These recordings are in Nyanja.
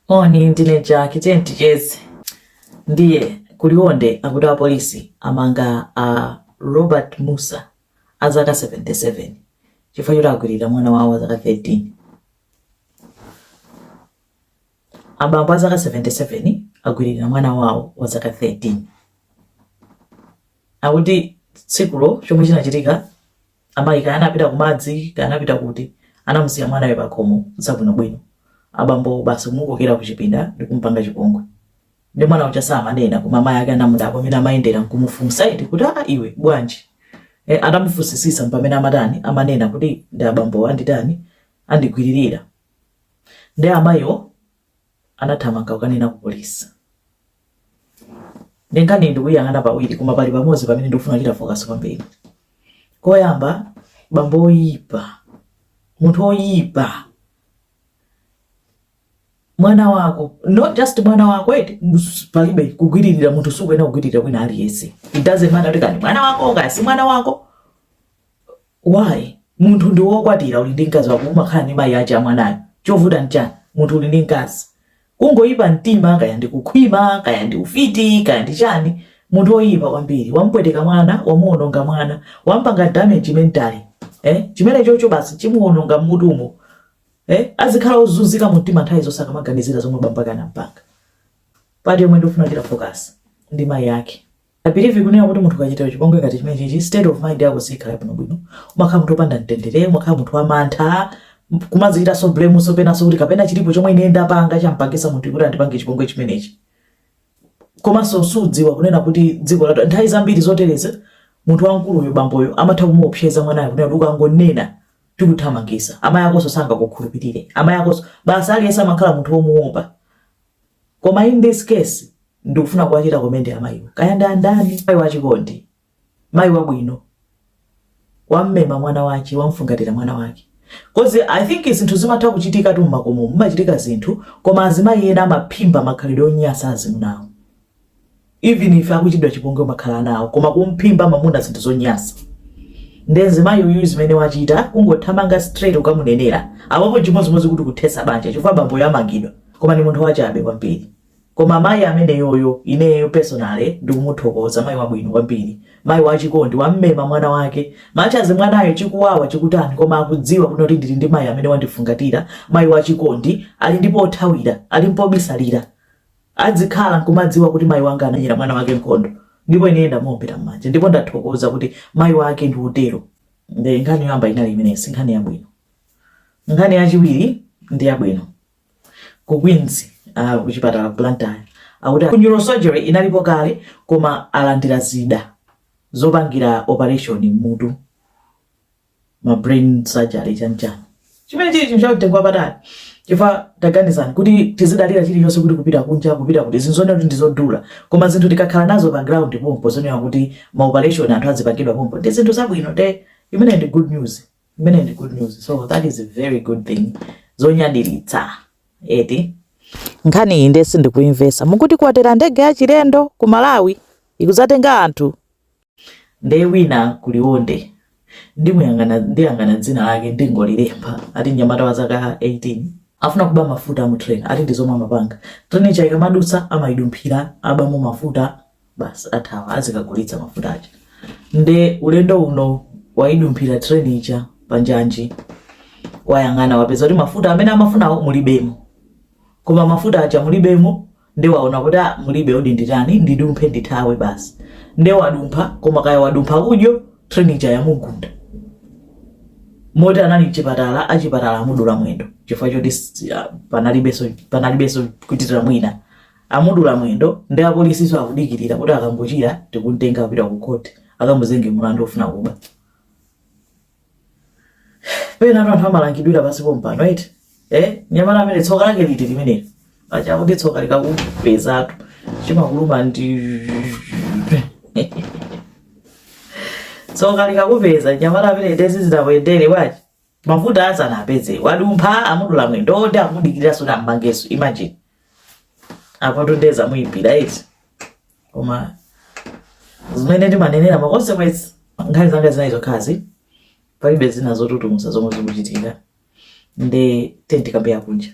Moni ndine Jack tiyeni ticheze. Ndiye ku Liwonde akuti apolisi amanga a Robert Mussa a zaka 77 chifukwa choti agwiririra mwana wawo wa zaka 13. Abambo a zaka 77 agwiririra mwana wawo wa zaka 13. Akuti tsikulo chomwe chinachitika Amayi kaya anapita kumadzi, kaya anapita kuti, anamusiya mwanayo pakhomo zabwinobwino. Abambowo basi kumukokera kuchipinda n'kumupanga chipongwe. Nde mwana uja samanena koma amayi ake anamudabwa mmene amayendera n'kumufunsa eti kuti, Aa iwe, bwanji? Eh, atamufunsisitsa mpamene amatani, amanena kuti ndi abambowo anditani, andigwiririra. Nde amayiwo. anathamanga kukanena ku polisi. Nde nkhaniyi ndikuyang'ana pawiri koma pali pamodzi pamene ndikufuna kuchita focus kwambiri. Koyamba bambo oyipa, munthu oyipa, mwana wako not just mwana wako eti palibe kugwiririra munthu sukuyenera kugwiririra wina aliyense. It doesn't matter kuti kaya ndi mwana wako kaya si mwana wako Why? Munthu ndiwe okwatira uli ndi mkazi wako umakhala ndi mayi ache amwanayo. Chovuta nchani? Munthu uli ndi mkazi. Kungoipa mtima kaya ndi kukhwima kaya ndi ufiti kaya ndi chani. Munthu oipa kwambiri. Wamupweteka mwana, wamuononga mwana. Wamupanga damage mentally. Eh? Chimenechocho basi chimuononga mmutumo. Eh? Azikhala ozunzika mumtima nthawi zonse akamaganizira zomwe bambo ake anampanga. Part yomwe ndikufuna kuchita focus ndi mayi ake. I believe kunena kuti munthu akachitidwa chipongwe ngati chimenechichi state of mind yako sikhala bwino bwino umakhala munthu opanda mtendere umakhala munthu wamantha kumazichitanso blame-nso penanso kuti kapena chilipo chomwe ine ndapanga champangisa munthu kuti andipange chipongwe chimenechi komanso sudziwa kunena kuti dziko lathu nthawi zambiri zotereza munthu wamkuluyo bamboyo amatha kumuopseza mwanayo kunena kuti ukangonena tikuthamangisa amayi akonso sangakukhulupirire amayi akonso basi aliyense amakhala munthu womuopa Koma in this case ndikufuna kuwachita commend amayiwa. Kaya ndi andani, mayi wachikondi, mayi wabwino, wammema mwana wake, wamfungatira mwana wake. Cause I think zinthu zimatha kuchitikatu mmakomomu, mumachitika zinthu, koma azimayi ena amaphimba makhalidwe onyasa azimunawo. even if akuchitidwa chipongwe amakhala ana awo koma kumphimba mamuna zinthu zonyasa nde mzimayi uyu zimene wachita kungothamanga straight kukamunenera apapo chimodzimodzi kuti kuthetsa banja chifukwa bamboyo amangidwa koma ndi munthu wachabe kwambiri koma mayi ameneyoyo ineyo personally ndikumuthokoza mayi wabwino kwambiri mayi wachikondi wammema mwana wake much as mwanayo chikuwawa chikutani koma akudziwa kunena kuti ndili ndi mayi amene wandifungatira mayi wachikondi ali ndi pothawira ali mpobisalira adzikhala nkumadziwa kuti mayi wanga anamenyera mwana wake nkhondo ndipo ine ndamuombera mmanja ndipo ndathokoza kuti mayi wake ndi utero ndi nkhani yoyamba inali imenesi nkhani yabwino nkhani yachiwiri ndi yabwino ku queens uh, kuchipatala ku blantyre akuti ku neurosurgery inalipo kale koma alandira zida zopangira operation mmutu ma brain surgery chanchani chimene chili chinthu chamtengo wapatali chifukwa taganizani kuti tizidalira chilichonse kuti kupita kunja kupita kuti zinthu zonena kuti ndizodula koma zinthu tikakhala nazo pa ground pompo zonena kuti ma operation anthu azipangidwa pompano ndi zinthu zabwino nde imeneyi ndi good news imeneyi ndi good news so that is a very good thing zonyadiritsa eti nkhani iyi nde sindikuimvesa mukuti kwatera ndege ya chilendo ku malawi ikuzatenga anthu nde wina ku liwonde ndiyang'ana dzina lake ndingolilemba ati mnyamata wa zaka 18 afuna kuba mafuta mu train ati ndi zomwe amapanga train ija ikamadutsa amayidumphira abamo mafuta basi athawa azikagulitsa mafuta aja nde ulendo uno wayidumphira train ija panjanji wayang'ana wapeza kuti mafuta amene amafunawo mulibemo koma mafuta aja mulibemo nde waona kuti ah, mulibe odi nditani ndidumphe ndithawe basi nde wadumpha koma kaya wadumpha udyo train ija yamugunda moti anali mchipatala achipatala amudula mwendo chifukwa choti s- ah, panalibenso panalibenso kuchitira mwina amudula mwendo nde apolisinso akudikirira kuti akangochira tikumtenga kupita ku khoti akamuzenge mulandu ofuna kuba pena anthu amalangidwira pansi pompano eti eh mnyamata ameneyu tsoka lake liti limeneli paja akuti tsoka likakupezatu chimakuluma ndi tsoka likakupeza mnyamata ameneyu izi zidamuyendera bwanji mafuta sanawapeze wadumpha amudula mwendo nde akumudikirira azammangenso imagine apotu ndiye zamuipira eti koma zimene ndimanenera ma consequence nkhani zanga zinayi zokhazi palibe zina zotutumusa zomwe zikuchitika nde tiyeni tikambe ya kunja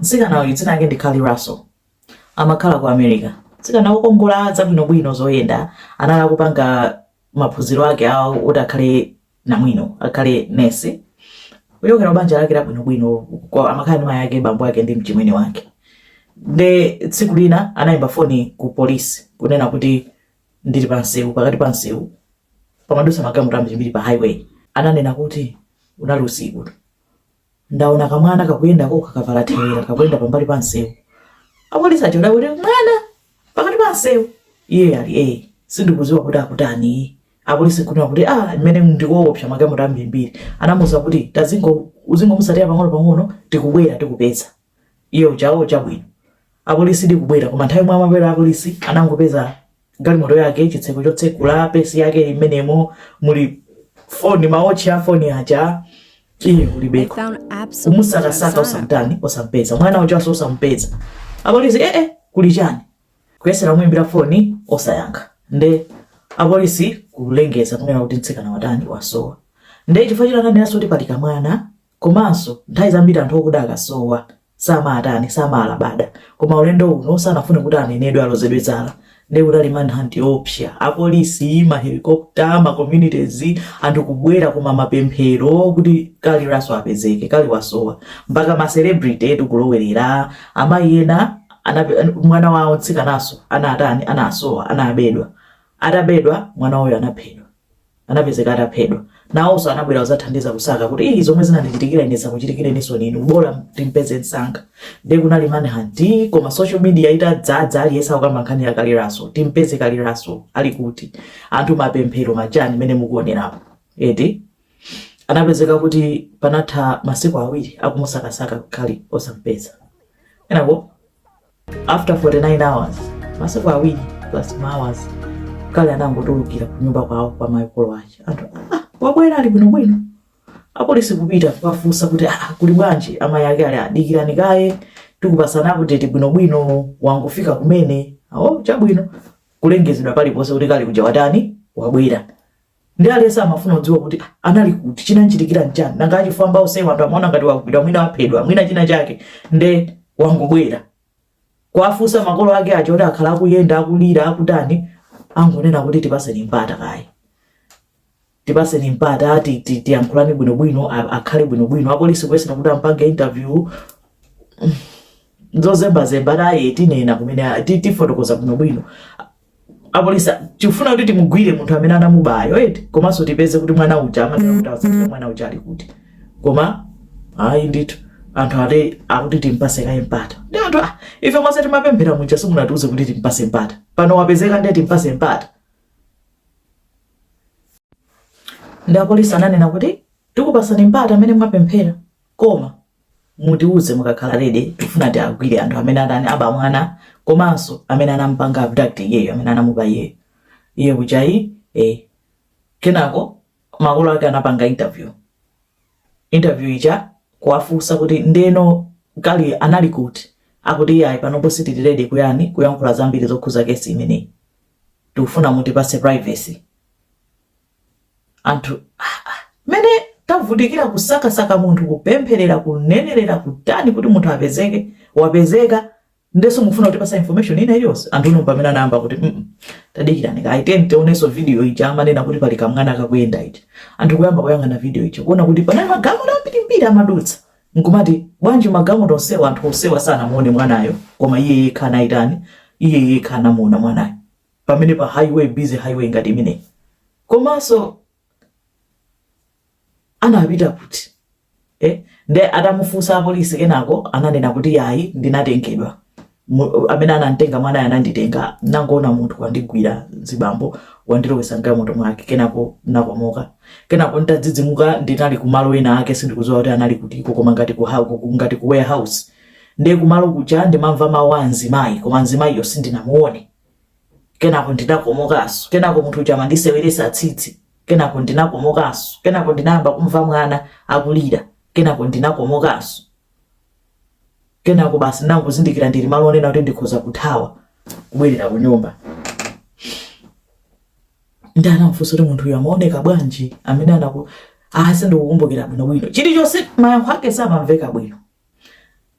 mtsikana uyu dzina lake ndi Carlee Russell amakhala ku America mtsikana wokongola zabwinobwino zoyenda anali kupanga maphunziro ake awo kuti akhale namwino akhale nesi kuchokera banja lake labwinobwino kwa- amakhala ndi mayi ake bambo ake ndi mchimwene wake nde tsiku lina anayimba foni ku polisi kunena kuti ndili pa msewu pakati pa msewu pamadusa magalimoto ambirimbiri pa highway ananena kuti unali usiku Ndaona kamwana kakuyenda kokha kavala thewera kakuyenda pambali pa msewu. Apolisi aja adakuti, Mwana! Pakati pa msewu! Iye ali ee, sindikudziwa kuti akutani. Apolisi nkunena kuti, Ah, kumeneko ndi koopsa magalimoto ambirimbiri. Anamuuza kuti, Tazingo, uzingomutsatira pang'onopang'ono, tikubwera tikupeza. iye uja awo chabwino apolisi ndikubwera koma nthawi yomwe amabwera apolisi anangopeza galimoto yake chitseko chotsekula pesi yake ili mmenemo muli foni mawotchi a foni aja iye kulibeko kumusakasaka osamtani osampeza mwana ujanso osampeza apolisi ee eh, eh, kuli chani kuyesera kumuimbira foni osayankha nde apolisi kulengeza kunena kuti mtsikana watani wasowa nde chifukwa choti ananenanso kuti pali kamwana Komanso nthawi zambiri anthu okuda akasowa, samaatani, samaalabada. Koma ulendo uno sanafune kuti anenedwe, alozedwe zala. Nde kunali manhunt yoopsa. Apolisi, ma helicopter, ma communities, anthu kubwera koma mapemphero kuti Carlee Russell apezeke, Carlee wasowa. Mpaka ma celebrity etu kulowerera. Amayi ena anape, mwana wawo, mtsikananso, anaatani, anasowa, anabedwa. Atabedwa, mwana wawoyo anaphedwa. anapezeka ataphedwa nawonso anabwera kuzathandiza kusaka kuti ii zomwe zinandichitikira ine zakuchitikireninso nini bola timpeze msanga nde kunali manhunt koma social media itadzadza aliyense kukamba nkhani ya Carlee Russell timpeze Carlee Russell ali kuti anthu mapemphero machani mmene mukuonerapo eti anapezeka kuti panatha masiku awiri akumusakasaka Carlee osampeza enako after 49 hours masiku awiri plus ma hours Carlee anangotulukira kunyumba kwawo kwa makolo ake anthu "Ah, wabwera ali bwinobwino apolisi kupita kukafunsa kuti "Ah, kuli bwanji amayi ake ali aa dikirani kaye tikupasani update bwinobwino wangofika kumene awo chabwino kulengezedwa paliponse kuti Carlee uja watani wabwera nde aliyense amafuna kudziwa kuti ah, anali kuti chinamchitikira nchani nanga achifwamba onsewa anthu amaona ngati wagwidwa mwina waphedwa mwina china chake nde wangobwera kuwafunsa makolo ake aja oti akhala akuyenda akulira akutani angonena kuti tipaseni mpata kaye tipaseni mpata ti- ti- tiyankhulane bwinobwino a- akhale bwinobwino apolisi kuyesera kuti ampange interview zozembazemba ati ayi tinena kumene ti- tifotokoza bwinobwino apolisi tikufuna kuti timugwire munthu amene anamubayo eti komanso tipeze kuti mwana uja amatha kuti asadziwe mwana uja ali kuti koma ayi ndithu anthu ati akuti timpase kaye mpata nde anthu ah, ife monse timapemphera muja simunatiuze kuti timpase mpata pano wapezeka ndiye timpase mpata nde apolisi ananena kuti tikupasani mpata amene mwapemphera koma mutiuze mukakhala ready tifuna tiagwire anthu amene atani aba mwana komanso amene anampanga abduct iyeyo amene anamuba iyeyo iye kuja ayi eh. kenako makolo ake anapanga interview interview ija kuwafunsa kuti ndeno Carlee anali kuti akuti iye ayi panopo sitili ready kutani kuyankhula zambiri zokhuza kesi imeneyi tikufuna mutipase privacy anthu ah, ah, mene tavutikira kusakasaka munthu kupempherera kunenerera kutani kuti munthu apezeke wapezeka ndeso mufuna kutipasa information ina iliyonse anthu uno pamene anayamba kuti mm -mm. tadikirani kaye mtionenso video ija amanena kuti pali kamwana kakuyenda ija anthu kuyamba kuyang'ana video ija kuona kuti panali magalimoto ambirimbiri amadutsa nkumati bwanji magalimoto onsewa anthu onsewa sanamuone mwanayo koma iye yekha anayitani iye yekha anamuona mwanayo pamene pa highway busy highway ngati imeneyi komanso anapita kuti eh? nde atamufunsa apolisi kenako ananena kuti yayi ndinatengedwa amene anantenga mwana ananditenga nangona munthu wandigwira zibambo wandilowesa m'galimoto mwake kenako nakomoka kenako ntadzidzimuka ndinali kumalo ena ake sindikuziwa kuti anali kutiko koma ngati ku ngati ku warehouse nde kumalo kuja ndimamva mawu a mzimayi koma mzimayiyo sindinamuone kenako ndinakomokanso kenako munthu uja amandiseweresa tsitsi kenako ndinakomokanso kenako ndinayamba kumva mwana akulira kenako ndinakomokanso kenako basi ndinangozindikira ndili malo onena kuti ndikhoza kuthawa kubwerera ku nyumba nde anamfunsa kuti munthu uyu amaoneka bwanji amene anaku a sindikukumbukira bwinobwino chilichonse mayankho ake samamveka bwino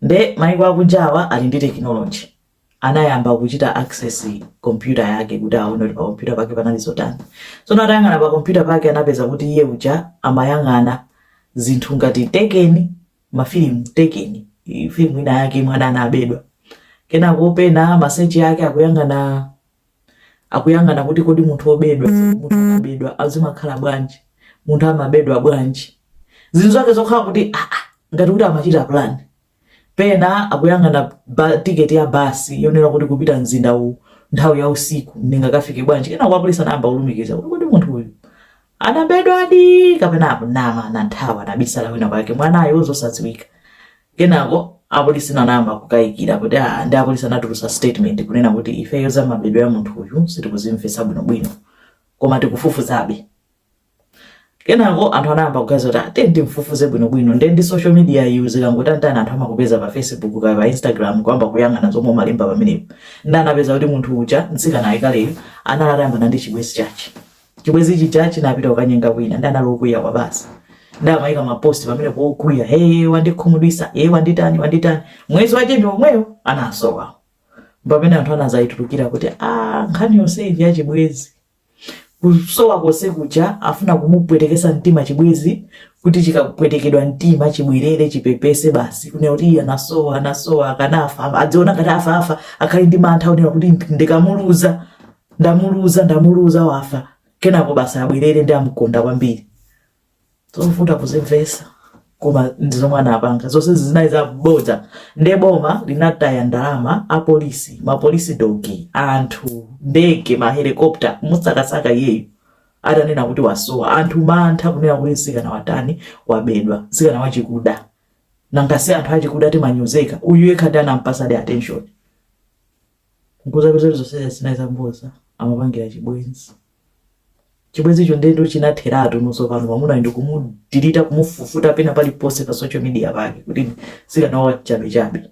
nde maiko akunjawa ali ndi tekinoloji anayamba kuchita access computer yake kuti aone kuti pa computer pake panali zotani. Tsono atayang'ana pa computer pake anapeza kuti iye uja amayang'ana zinthu ngati tekeni mafilimu tekeni i- filimu ina yake imene mwana anabedwa kenako pena masechi ake akuyang'ana akuyang'ana kuti kodi munthu obedwa munthu anabedwa azimakhala bwanji munthu amabedwa bwanji zinthu zake zokhala kuti ah, ah, ngati kuti amachita plan pena akuyang'ana ba, tiketi ya basi yonena kuti kupita mzinda uwu nthawi ya usiku ndingakafike bwanji kenako apolisi anayamba kulumikiza kuti kodi munthu uyu anabedwadi kapena akunama anathawa anabisala kwinakwake mwanayo zosadziwika kenako apolisi anayamba kukayikira kuti "Ah, ndi apolisi anatulusa statement kunena kuti ifeyo za mabedwe a munthu uyu sitikuzimvetsa bwinobwino koma tikufufuzabe kenako anthu anayamba kuganiza kuti ate ah, ndimfufuze bwinobwino nde ndi social media iyi zikangotere anthu amakupeza pa facebook kaya pa instagram kuyamba kuyang'ana zomwe umalemba pamenepo nde anapeza kuti munthu uja mtsikana apa kaleyo anali atayambana ndi chibwezi chache chibwezi ichi chache chinapita kukanyenga kwina nde anali okwiya kwabasi nde amayika maposti pamenepo okwiya hey wandikhumudwisa hey wanditani wanditani mwezi wache ndi omwewo anasowa pamene anthu anazayitulukira kuti a ah, nkhani yonse iyi yachibwezi Kusowa konse kuja afuna kumupwetekesa mtima chibwezi kuti chikapwetekedwa mtima chibwerere chipepese basi kunena kuti iye anasowa anasowa akanafa adziona ngati afa afa akhale ndi mantha wonena kuti ndi- ndikamuluza ndamuluza ndamuluza wafa kenako basi abwerere ndi amkonda kwambiri zovuta kuzimvesa koma ndi zomwe anapanga zonse zinali za bodza nde boma linataya ndalama apolisi mapolisi dogi anthu ndege mahelikopta kumusakasaka iyeyo atanena kuti wasowa anthu mantha kunena kuti mtsikana watani wabedwa mtsikana wachikuda nanga si anthu achikuda timanyozeka uyu yekha ndi amene anampasadi attention nkuzapeza kuti zonse zinali za bodza amapangira chibwenzi chibwenzicho ndendo chinatheratu nonse pano mamunayo ndikumudirita kumufufuta pena pali ponse pa social media pake kuti atsikanawa chabe chabe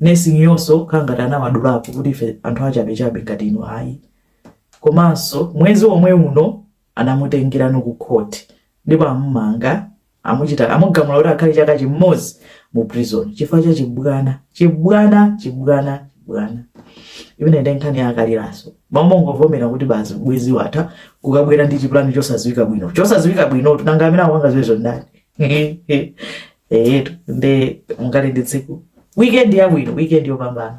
nursing yonso kukhala ngati anawadulapo kuti ife anthu achabe chabe ngati inu ayi komanso mwezi omwe uno anamutengeranso ku court ndipo amumanga Amuchita, amugamula kuti akhale chaka chimodzi mu prison chifukwa cha chibwana chibwana chibwana chibwana imene ndi nkhani ya a Karliranso m'malo mongovomera kuti basi ubwenzi watha kukabwera ndi chipulani chosadziwika bwino chosadziwika bwino tu nanga amene akupanga zimenezo ndani eyetu nde mukhale ndi tsiku weekend yabwino weekend yopambana